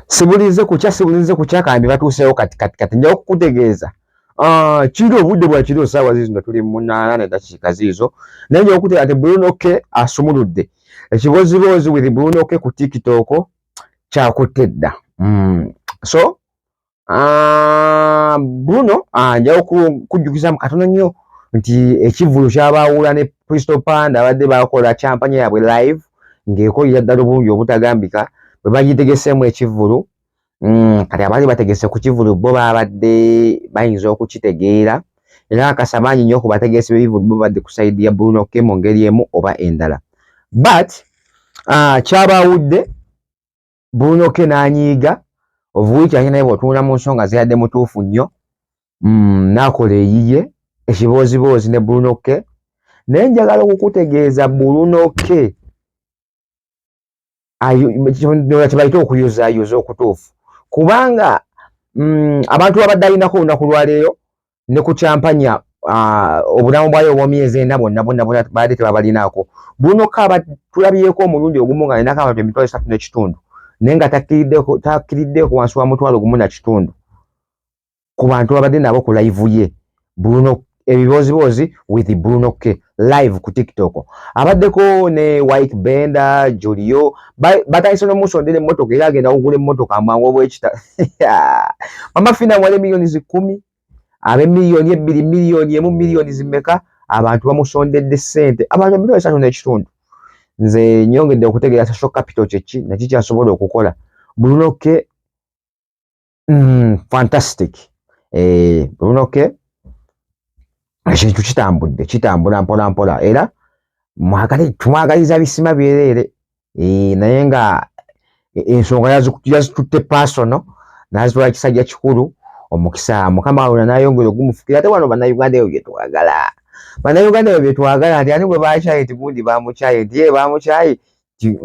sibulinze kukya sibulinze kukya kambi batuuseewo kati kati kati njawo kukutegeeza ah, kiro obudde bwa kiro saawa ziizo nga tuli munaana ne dakiika ziizo naye njawo kutegeeza nti bulunoke asumuludde ekiboziboozi with bulunoke ku tikitooko kyakutte dda mm. so Ah, Bruno ah, njawo kujjukiza mu katono nnyo nti ekivvulu kyabaawula ne Crystal Panda abadde baakola kyampanya yaabwe live ng'ekolera ddala obulungi obutagambika bwe bagitegeseemu ekivvulu mm, kati abaali bategese ku kivvulu bo baabadde bayinza okukitegeera era akasa bangi nnyo ku bategesi b'ebivvulu bo badde ku sayidi ya Bruno ke mu ngeri emu oba endala but ah, kyabaawudde buunoke n'anyiiga ovuwiki ate naye bw'otunula mu nsonga zeyadde mutuufu nnyo mm, n'akola eyiye ekibooziboozi ne buunoke naye njagala okukutegeeza buunoke kyebayita okuyuzayuza okutuufu kubanga mm, abantu babadde alinako olunaku lwaleero ne ku kyampanya ah, obulamu bwayo obwomyezi ena bwonna bwonna bwonna baadde tebabalinaako buno kaaba tulabyeko omulundi ogumu nga nenako abantu emitwalo esatu n'ekitundu naye nga takkiriddeeko wansi wa mutwalo gumu na kitundu ku bantu babadde nabo ku layivu ye bruno ebiboziboozi with bruno ke live ku tiktok abaddeko ne wike benda julio batandise nomusondera emmotoka era agenda kugula emmotoka amangu obwekita mama fina wali emiliyoni zikumi abe miliyoni ebbiri miliyoni emu miliyoni zimeka abantu bamusondedde sente abantu emiliyoni esatu nekitundu nze nyongedde okutegeera social capital kyeki nakikyasobola okukola bulunoke Mm, fantastic eh, unoke ekintu kitambudde kitambula mpola mpola era mwagale tumwagaliza bisima byereere eh, naye nga e, ensonga yazitutte pasono naziwa ekisajja kikulu omukisa mukama wawona nayongera ogumufukira ate wano bannayuganda ebyo byetwagala bannayuganda ebyo byetwagala nti ani bwe bakyaye nti gundi bamukyaye nti ye bamukyaye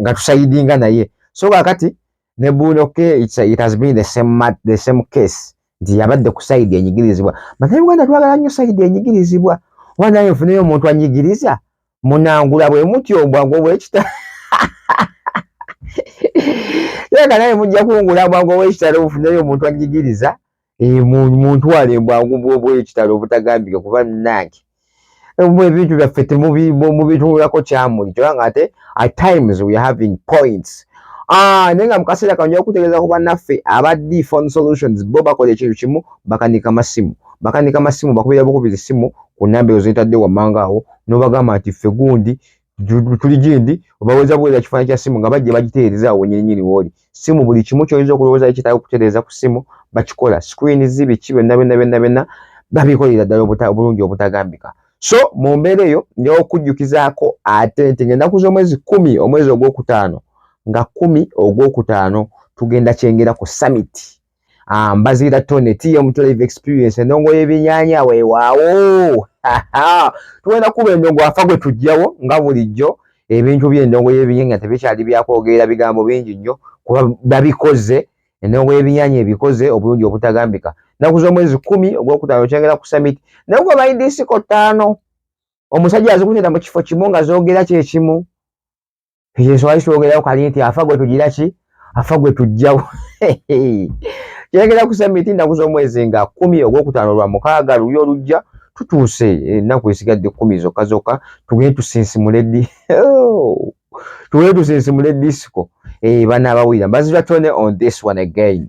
nga tusayidinga naye so kakati ne bunoke it's a, it has been the same mat, the same case nti yabadde ku side enyigirizibwa banaye uganda twagala nnyo side enyigirizibwa oba naye nfuneyo omuntu anyigiriza munangula bwe muti obwago bwekita yega naye mujja kungula obwago bwekitalo bufuneyo omuntu anyigiriza Eh, muntu wale bwangu bwobwekitalo obutagambika kuba nange mwe ebintu byaffe temubitulako kyamuli kyoba nga ate at times we having points ah, naye nga mukaseera kano nja kutegeeza ku bannaffe aba d phone solutions bo bakola ekintu kimu bakanika masimu bakanika masimu bakubira bukubi zisimu ku namba ezo zetadde wammanga awo nobagamba nti ffe gundi tuli gindi obaweza buweza kifaananyi kya simu nga bajja bagiteereza awo nyininyini wooli simu buli kimu kyoyinza okulowooza kitaaga okutereeza ku simu bakikola screen zi biki byonna byonna byonna byonna babikolera ddala obulungi obutagambika so mu mbeera eyo njawo okujjukizaako ate nti ng'ennaku z'omwezi kumi omwezi ogwokutaano nga kumi ogwokutaano tugenda kyengera ku summit Ah, mbaziira tone tea omutwe live experience endongo y'ebinyanya weewaawo tugenda kuba endongo afa gwe tujjawo nga bulijjo ebintu by'endongo y'ebinyanya tebikyali byakwogerera bigambo bingi nnyo kuba babikoze endongo y'ebinyanya ebikoze obulungi obutagambika naku z'omwezi kumi ogwokutaano kyengera ku summit naye gwe baidisiko ttaano omusajja azikutera mu kifo kimu nga zoogera kyekimu ekyo nswali kyogerako kali nti afa gwe tugira ki afa gwe tujjawo kyegera kusa miti ennaku z'omwezi nga kumi ogwokutaano lwa mukaaga luli olujja tutuuse ennaku esigadde kumi zokka zokka tugende tusinsimule di oh! tugende tusinsimule disiko eh, bana abawulira mbazira tone on this one again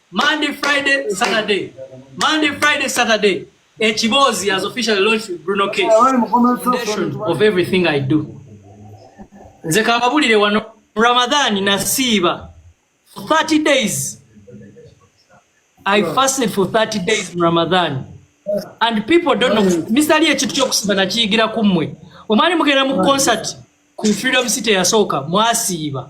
Monday, Friday, Saturday. Monday, Friday, Saturday. Echibozi has officially launched with Bruno Case. Foundation of everything I do. Nze kababulire wano Ramadan nasiiba for 30 days. I fasted for 30 days in Ramadan. And people don't know. Mr. Ali ekitu kyokusiba nakiyigira ku mmwe. Omwali mugenda mu concert ku Freedom City yasooka mwasiiba.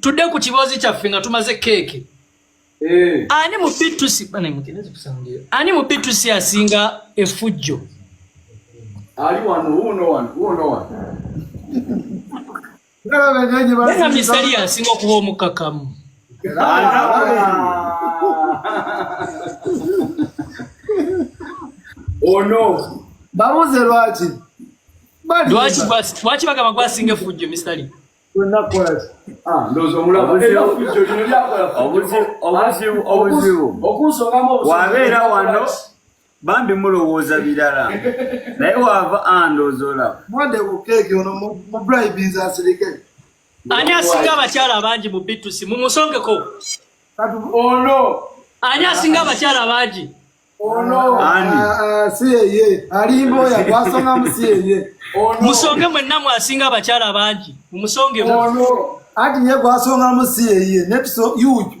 tudde ku kiboozi kyaffe nga tumaze keeke eh. ani mu bitusi ani mu bitusi asinga efujjo ali wano wuno wano wuno wano Nena misali yansinga okuba omukakamu. Ono babuze lwaki? Lwaki lwaki bagamba gwasinga efujjo misali? Ah, obuzibu wabeera wano bambi mulowooza birala naye waava andooza olaba mwade ku keeki ono mubribinza asirike ani asinga abakyala abangi mu bitusi mumusongeko kati ono ani asinga abakyala abangi ono si yeye alimba oyo gwasongamu si yeye musonge mwenna mwasinga abakyala abangi mumusongemu anti ye gwasongamu si yeye netuso yuju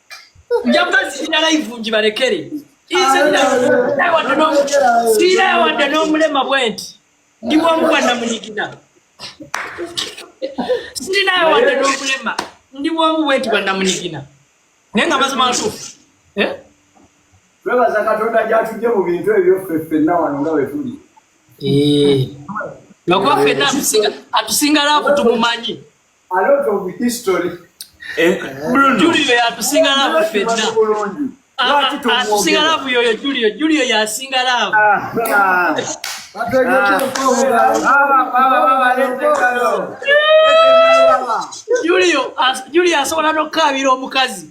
nja kubaziira layivu ngibalekere siira yawadde n'omulema bwe nti ndi bwomu bwa namunigina sirina yawadde n'omulema ndi bwomu bwe nti bwa namunigina naye nga mazima ntuufu eh? twebaza katonda gyatudde mu bintu ebyo ffe ffenna wano nga we tuli eh. lwakuba ffenna atusinga laavu tumumanyi a lot of history eh, eh. julio yatusinga laavu fenna atusinga laavu yoyo julio julio yasinga laavu julio asobola nokukaabira omukazi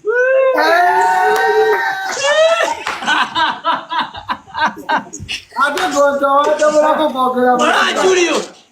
ate gontawatabulako kwogera julio